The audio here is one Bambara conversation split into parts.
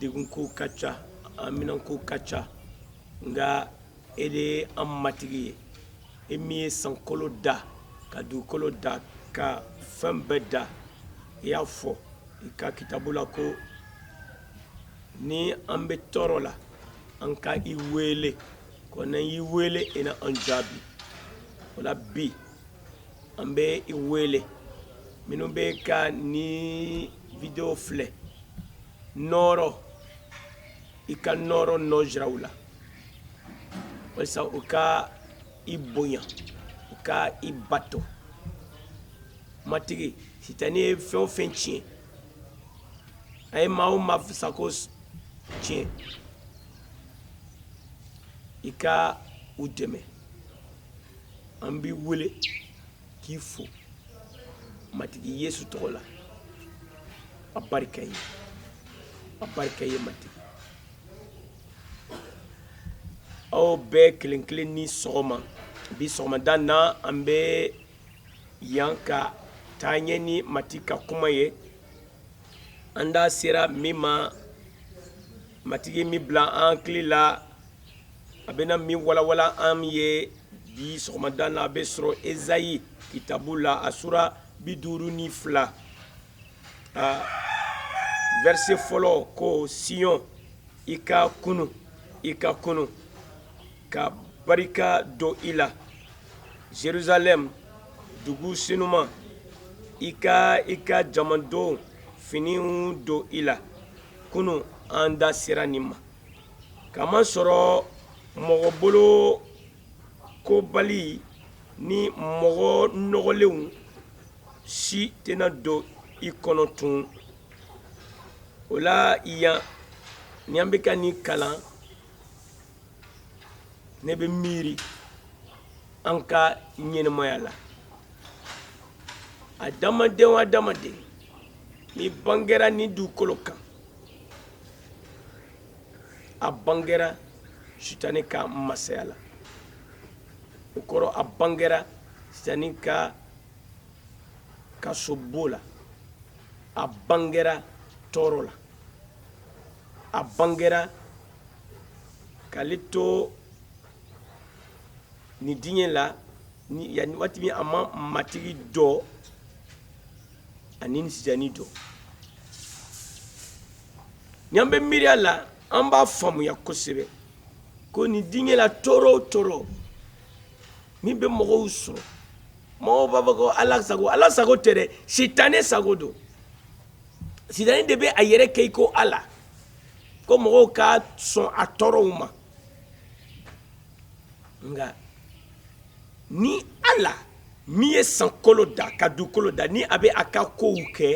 degunko ka ca haminanko ka ca nka e de ye an matigi ye e min ye sankolo da ka dugukolo da ka fɛn bɛɛ da i y'a fɔ i ka kitabu la ko ni an bɛ tɔɔrɔ la an ka i wele ko n'an y'i wele i na an jaabi o la bi an bɛ i wele minnu bɛ ka nin video filɛ nɔɔrɔ i ka nɔɔrɔ nɔ jira u la walisa u ka i bonya u ka i bato matigi sitani ye fɛn o fɛn tiɲɛ a ye maa o maa sago tiɲɛ i ka u dɛmɛ an b'i wele k'i fo matigi yesu tɔgɔ la a barika ye a barika ye matigi aw bɛɛ kelen kelen ni sɔgɔma bi sɔgɔmada na an bɛ yan ka taa ɲɛ ni matigi ka kuma ye an da sera min ma matigi min bila an hakili la a bɛna min walawala an ye bi sɔgɔmada na a bɛ sɔrɔ ezayi kitabu la a sura bi duuru ni fila a vɛrɛse fɔlɔ ko siyɔn i ka kunu i ka kunu ka barika don i la jerusalem dugu senuman i ka i ka jamadon finiw don i la kunu an da sera nin ma k'a masɔrɔ mɔgɔ bolokobali ni mɔgɔ nɔgɔlenw si tɛna don i kɔnɔ tun o la yan ni an bɛ ka nin kalan ne bɛ miiri an ka ɲɛnɛmaya la adamaden o adamaden min bangera nin dugukolo kan a bangera sitani ka masaya la o kɔrɔ a bangera sitani ka kasobon la a bangera tɔɔrɔ la a bangera k'ale to nin diɲɛ la ni yani waati min a ma matigi dɔn ani sitane don n'an bɛ miiriya la an b'a faamuya kosɛbɛ ko nin diɲɛ la tɔɔrɔ o tɔɔrɔ min bɛ mɔgɔw sɔrɔ mɔgɔw b'a fɔ ko ala sago ala sago tɛ dɛ sitane sago don sitane de bɛ a yɛrɛ kɛ i ko ala ko mɔgɔw ka sɔn a tɔɔrɔw ma nka Ni ala min ye sankolo da ka dugukolo da ni a bɛ a ka kow kɛ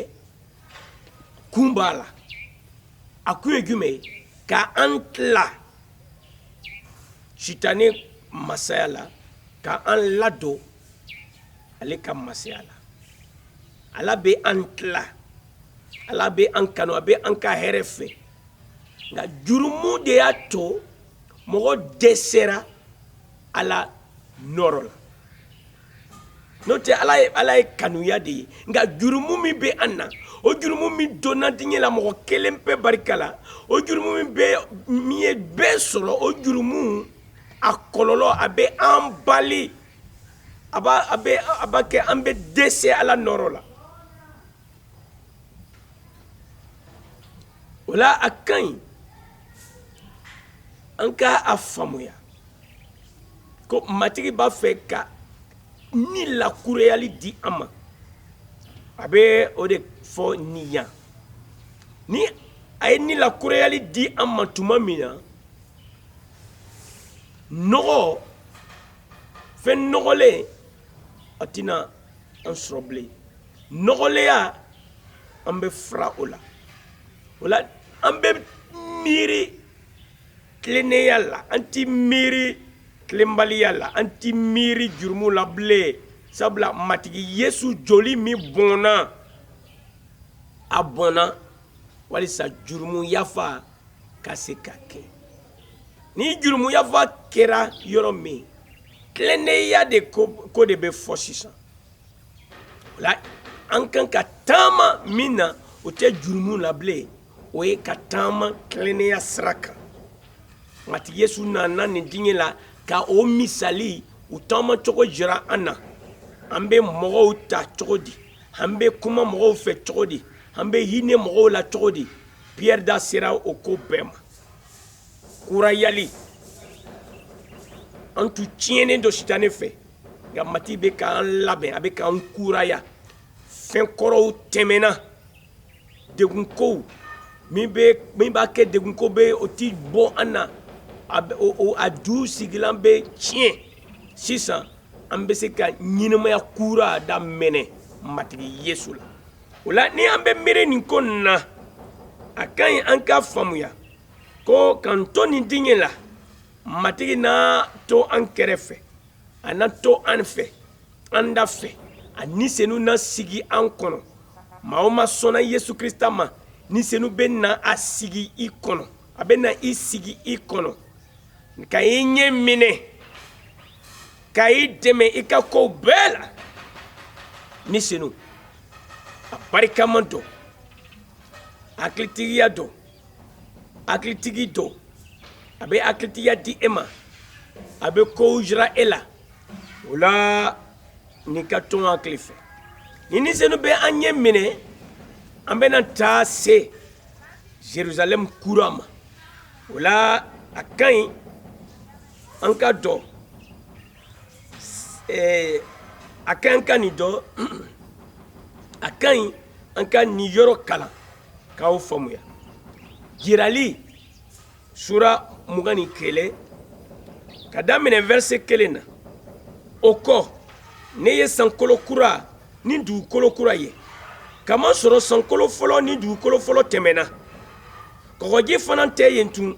kun b'a la a kun ye jumɛn ye ka an tila sitane masaya la ka an ladon ale ka masaya la ala bɛ an tila ala bɛ an kanu a bɛ an ka hɛrɛ fɛ nka jurumu de y'a to mɔgɔ dɛsɛra ala nɔɔrɔ la n'o tɛ ala ye kanuya de ye nka jurumu min bɛ an na o jurumu min donna diɲɛ la mɔgɔ kelen pe barika la o jurumu min bɛ min ye bɛɛ sɔrɔ o jurumu a kɔlɔlɔ a bɛ an bali a b'a a bɛ a b'a kɛ an bɛ dɛsɛ ala nɔɔrɔ la o la a ka ɲi an ka a faamuya ko matigi b'a fɛ ka ni lakurayali di an ma a bɛ o de fɔ nin yan ni a ye ni lakurayali di an ma tuma min na nɔgɔ fɛn nɔgɔlen a tɛna an sɔrɔ bilen nɔgɔlenya an bɛ fura o la o la an bɛ miiri tilennenya la an ti miiri tilenbaliya la an ti miiri jurumu la bilen sabula matigi yesu joli min bɔnna a bɔnna walisa jurumu yafa ka se ka kɛ ni jurumu yafa kɛra yɔrɔ min tilennenya de ko de bɛ fɔ sisan la an kan ka taama min na o tɛ jurumu la bilen o ye ka taama tilennenya sira kan matigi yesu nana nin diɲɛ la ka o misali u taama cogo jira an na an bɛ mɔgɔw ta cogo di an bɛ kuma mɔgɔw fɛ cogo di an bɛ hinɛ mɔgɔw la cogo di piyɛri da sera o ko bɛɛ ma kurayali an tun tiɲɛnen don sitane fɛ nka matigi bɛ k'an labɛn a bɛ k'an kuraya fɛn kɔrɔw tɛmɛna degunkow min bɛ min b'a kɛ degunko bɛ o ti bɔ an na a bɛ o o a jusigilan bɛ tiɲɛ sisan an bɛ se ka ɲɛnɛmaya kura daminɛ matigi yesu la o la ni an bɛ miiri nin ko nin na a ka ɲi an k'a faamuya ko k'an to nin diɲɛ la matigi na to an kɛrɛfɛ a na to an fɛ an da fɛ a ni senu na sigi an kɔnɔ maa o maa sɔnna yesu krista ma ni senu bɛ na a sigi i kɔnɔ a bɛ na i sigi i kɔnɔ ka i ɲɛ minɛ ka i dɛmɛ i ka kow bɛɛ la ni senu a barikama don hakilitigiya don hakilitigi don a bɛ hakilitigiya di e ma a bɛ kow jira e la o la n'i ka to hakili fɛ ni ni senu bɛ an ɲɛ minɛ an bɛna taa se jerusalem kura ma o la a ka ɲi an ka dɔn eh, a ka ɲi ka nin dɔn a ka ɲi an ka nin yɔrɔ kalan ka o faamuya jirali sura mugan ni kelen ka daminɛ vɛrse kelen na o kɔ ne ye sankolo kura ni dugukolo kura ye kamasɔrɔ sankolo fɔlɔ ni dugukolo fɔlɔ tɛmɛna kɔgɔji fana tɛ yen tun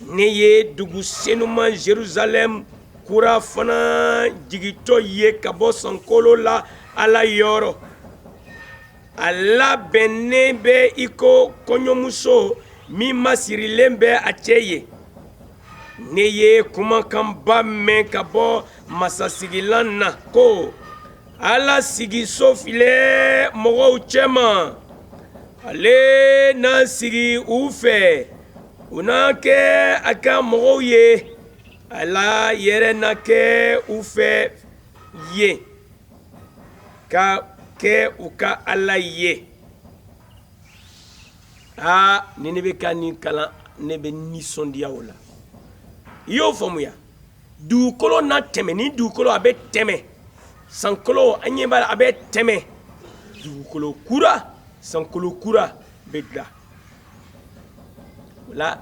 ne ye dugu senuman jerusalɛm kura fana jigitɔ ye ka bɔ sankolo la ala yɔrɔ a labɛnnen bɛ i ko kɔɲɔmuso min masirilen bɛ a cɛ ye ne ye kumakanba mɛn ka bɔ masasigilan na ko ala sigiso filɛ mɔgɔw cɛma ale na sigi u fɛ u na kɛ a ka mɔgɔw ye ala yɛrɛ na kɛ u fɛ yen ka kɛ u ka ala ye aa ni ne bɛ ka nin kalan ne bɛ nisɔndiya o la i y'o faamuya dugukolo na tɛmɛ nin dugukolo a bɛ tɛmɛ sankolo an ɲɛ b'a la a bɛ tɛmɛ dugukolo kura sankolo kura bɛ dilan o la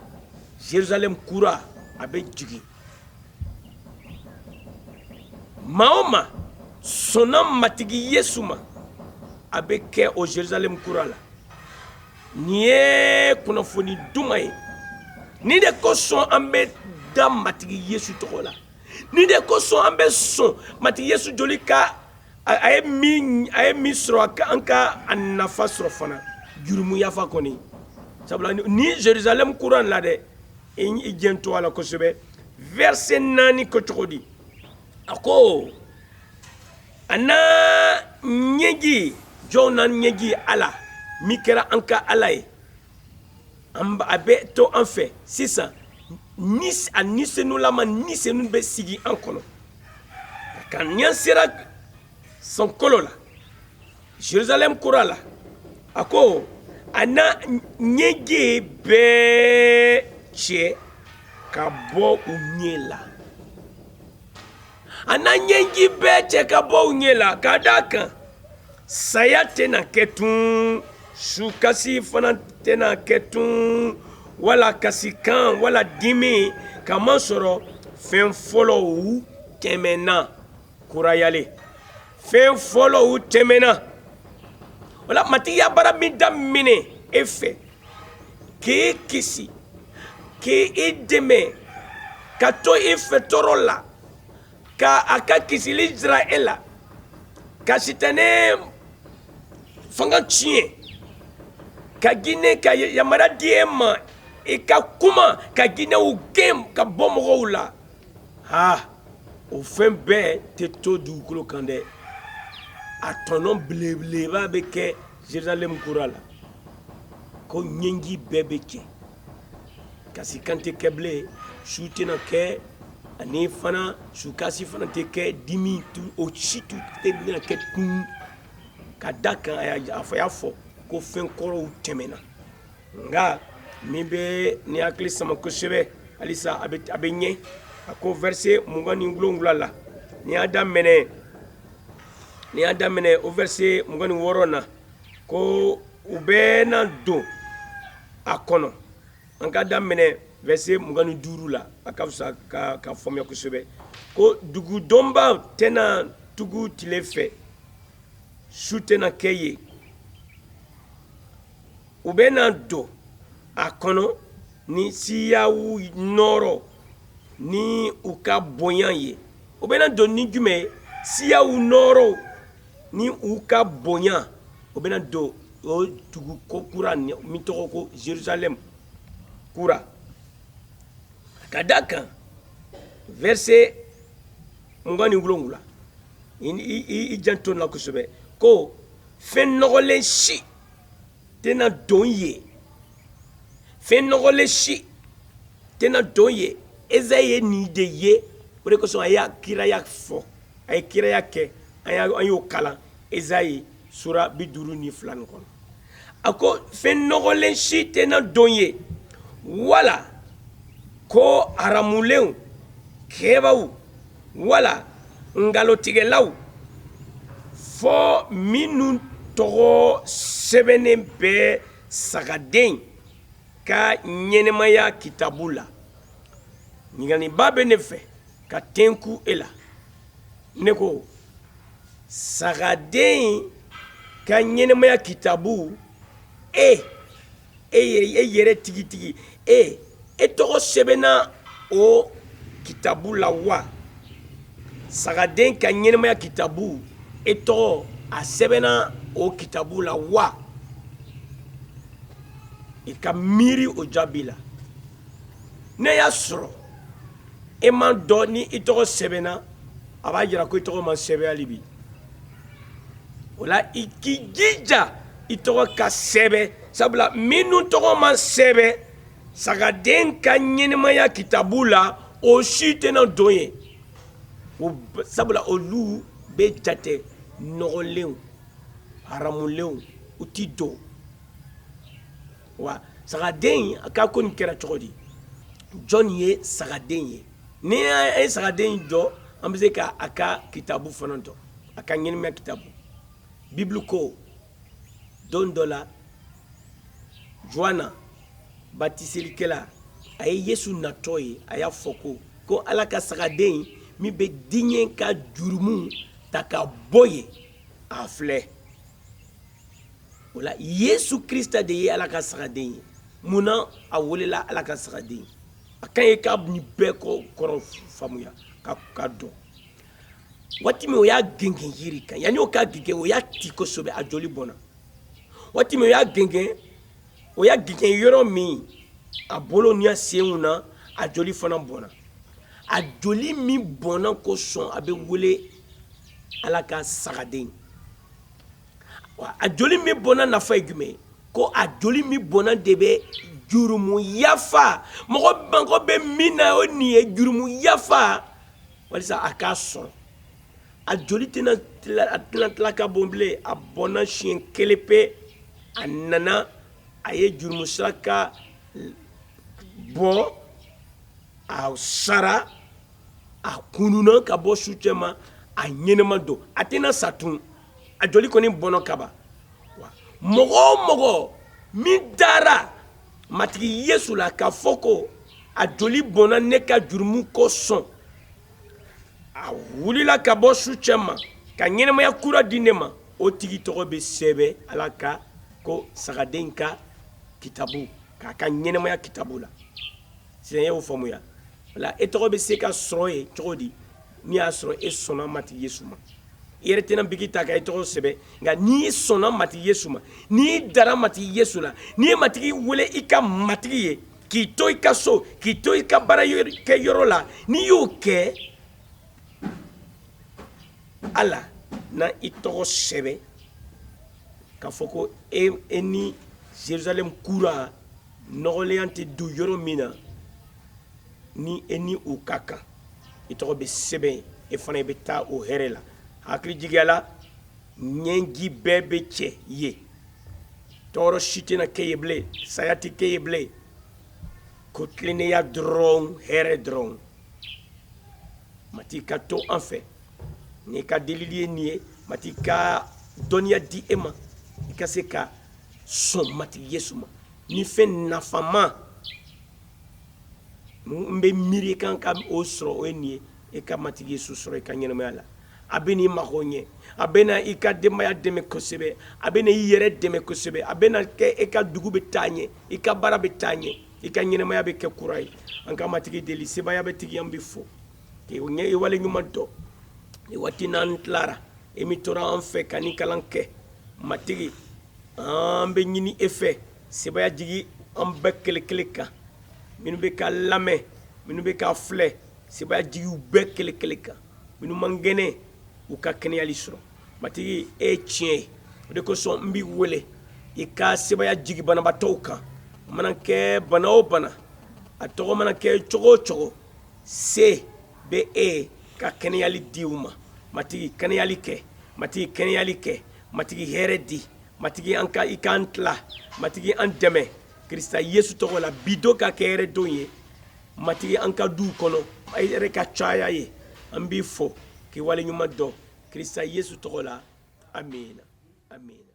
jerusalem kura a bɛ jigin maa o maa sɔnna matigi yesu ma a bɛ kɛ o jerusalem kura la nin ye kunnafoni duman ye nin de kosɔn an bɛ da matigi yesu tɔgɔ la nin de kosɔn an bɛ sɔn matigi yesu joli ka a ye min a ye min sɔrɔ a ka an ka a nafa sɔrɔ fana jurumu yafa kɔni sabula nin jerusalem kura la dɛ i janto a la kosɛbɛ vɛrɛse naani ko cogo di a ko a na ɲɛji jɔn na ɲɛji ala min kɛra an ka ala ye a bɛ to an fɛ sisan a ni senulama ni senu bɛ sigi an kɔnɔ nka n'an sera sankolo la jerusalɛm kura la a ko a na ɲɛji bɛɛ cɛ ka bɔ u ɲɛ la a na ɲɛji bɛɛ cɛ ka bɔ u ɲɛ la ka d'a kan saya tɛna kɛ tun sukasi fana tɛna kɛ tun wala kasikan wala dimi k'a masɔrɔ fɛn fɔlɔw tɛmɛnna kurayalen fɛn fɔlɔw tɛmɛna o la matigi ye baara min daminɛ e fɛ k'e kisi k'i dɛmɛ ka to i fɛ tɔɔrɔ la ka a ka kisili jira e la ka sitanɛ fanga tiɲɛ ka jinɛ ka yamaruya di e ma i ka kuma ka jinɛw gɛn ka bɔ mɔgɔw la aa o fɛn bɛɛ tɛ to dugukolo kan dɛ a tɔnɔ belebeleba bɛ kɛ Jerusalɛm kura la ko ɲɛji bɛɛ bɛ cɛ kasikan tɛ kɛ bilen su tɛna kɛ ani fana sukasi fana tɛ kɛ dimi o si tun tɛ bɛna kɛ tun ka d'a kan a y'a fɔ ko fɛn kɔrɔw tɛmɛna nka min bɛ ne hakili sama kosɛbɛ halisa a bɛ ɲɛ a ko vɛrɛse mugan ni wolonwula la n'i y'a daminɛ n'i y'a daminɛ o vɛrɛse mugan ni wɔɔrɔ na ko u bɛɛ na don a kɔnɔ an ka daminɛ vɛrɛse mugan ni duuru la a ka fisa k'a faamuya kosɛbɛ ko dugu dondaw tɛna tugu tile fɛ su tɛna kɛ yen u bɛ na don a kɔnɔ ni siyaw nɔɔrɔ ni u ka bonya ye u bɛ na don ni jumɛn ye siyaw nɔɔrɔ ni u ka bonya u bɛ na don o dugu ko kura min tɔgɔ ko zerusalɛmu kura ka da a kan vɛrise mugan ni wolonwula i janto n na kosɛbɛ ko fɛn nɔgɔlen si tɛna don ye fɛn nɔgɔlen si tɛna don ye ezayi ye nin de ye o de kosɔn a y'a kiraya fɔ a ye kiraya kɛ an y'o kalan ezayi sura bi duuru ni fila nin kɔnɔ a ko fɛn nɔgɔlen si tɛna don ye wala ko haramulenw kɛbaw wala nkalontigɛlaw fo minnu tɔgɔ sɛbɛnnen bɛ sagaden ka ɲɛnɛmaya kitabu la ɲininkaliba bɛ ne fɛ ka tenku e la ne ko sagaden ka ɲɛnɛmaya kitabu e e e yɛrɛ tigitigi e e tɔgɔ sɛbɛnna o kitabu la wa sagaden ka ɲɛnɛmaya kitabu e tɔgɔ a sɛbɛnna o kitabu la wa i ka miiri o jaabi la n'e y'a sɔrɔ e m'a dɔn ni i tɔgɔ sɛbɛnna a b'a jira ko i tɔgɔ ma sɛbɛn hali bi o la i k'i jija i tɔgɔ ka sɛbɛn sabula minnu tɔgɔ ma sɛbɛn sagaden ka ɲɛnɛmaya kitabu la o si tɛna don ye sabula olu bɛ jate nɔgɔlenw haramulenw u ti don wa sagaden a ka ko nin kɛra cogo di jɔn ye sagaden ye ni an ye sagaden dɔn an bɛ se ka a ka kitabu fana dɔn a ka ɲɛnɛmaya kitabu bibulu ko don dɔ la juana batiselikɛla a ye yesu natɔ ye a y'a fɔ ko ko ala ka sagaden min bɛ diɲɛ ka jurumu ta ka bɔ ye a filɛ o la yesu krista de ye ala ka sagaden ye mun na a welela ala ka sagaden a kan ye ka nin bɛɛ kɔrɔ faamuya ka dɔn waati min o y'a gengen yiri kan yanni o k'a gengen o y'a ti kosɛbɛ a joli bɔnna waati min o y'a gengen o y'a gengen yɔrɔ min a bolo ni a senw na a joli fana bɔnna a joli min bɔnna kosɔn a bɛ wele ala ka sagaden a joli min bɔnna nafa ye jumɛn ye ko a joli min bɔnna de bɛ jurumu yafa mɔgɔ mago bɛ min na o nin ye jurumu yafa walisa a k'a sɔrɔ a joli tɛna a tɛna tila ka bɔn bilen a bɔnna siɲɛ kelen pe a nana a ye jurumu saraka bɔ a sara a kununna ka bɔ su cɛma a ɲɛnama don a tɛna sa tun a joli kɔni bɔnna kaba mɔgɔ o mɔgɔ min dara matigi yesu la k'a fɔ ko a joli bɔnna ne ka jurumu kosɔn a wulila ka bɔ su cɛma ka ɲɛnamaya kura di ne ma o tigi tɔgɔ bɛ sɛbɛn ala ka ko sagaden ka kitabu k'a ka ɲɛnamaya kitabu la sisan y'o faamuya wala e tɔgɔ bɛ se ka sɔrɔ yen cogo di n'i y'a sɔrɔ e sɔnna matigi yesu ma i yɛrɛ tɛna biki ta ka i tɔgɔ sɛbɛn nka n'i sɔnna matigi yesu ma n'i dara matigi yesu la n'i ye matigi wele i ka matigi ye k'i to i ka so k'i to i ka baarakɛyɔrɔ la n'i y'o kɛ ala na i tɔgɔ sɛbɛn k'a fɔ ko e, e ni jerusalem kura nɔgɔlenya tɛ don yɔrɔ min na ni e ni o ka kan i tɔgɔ bɛ sɛbɛn e fana i bɛ taa o hɛrɛ la hakili jigiya la ɲɛji bɛɛ bɛ cɛ yen tɔɔrɔ si tɛna kɛ yen bilen saya tɛ kɛ yen bilen ko tilennenya dɔrɔn hɛrɛ dɔrɔn matigi ka to an fɛ ne ka delili ye nin ye matigi ka dɔnniya di e ma i ka se ka sɔn matigi yesu ma ni fɛn nafama n bɛ miiri i ka kan ka o sɔrɔ o ye nin ye i ka matigi yesu sɔrɔ i ka ɲɛnamaya la a bɛna i mago ɲɛ a bɛna i ka denbaya dɛmɛ kosɛbɛ a bɛna i yɛrɛ dɛmɛ kosɛbɛ a bɛna kɛ e ka dugu bɛ taa ɲɛ i ka baara bɛ taa ɲɛ i ka ɲɛnamaya bɛ kɛ kura ye an ka matigi deli sebaaya bɛɛ tigi an b'i fo k'i ɲɛ i waleɲumandɔn nin waati n'an tilara e min tora an fɛ ka nin kalan kɛ matigi an b'a ɲini e fɛ sebaya jigi an bɛɛ kelen kelen kan minnu bɛ ka lamɛn minnu bɛ ka filɛ sebaya jigi u bɛɛ kelen kelen kan minnu man kɛnɛ u ka kɛnɛyali sɔrɔ matigi e ye tiɲɛ ye o de kosɔn n b'i wele i ka sebaya jigi banabaatɔw kan a mana kɛ bana o bana a tɔgɔ mana kɛ cogo o cogo se bɛ e ye ka kɛnɛyali di u ma matigi kɛnɛyali kɛ matigi kɛnɛyali kɛ Matigi hɛrɛ di Matigi ani k'an tila Matigi an dɛmɛ Krisita Yesu tɔgɔ la bi don ka kɛ hɛrɛ don ye Matigi an ka duw kɔnɔ hɛrɛ ka caya yen an b'i fo k'i waleɲuman dɔn Krisita Yesu tɔgɔ la amiina amiina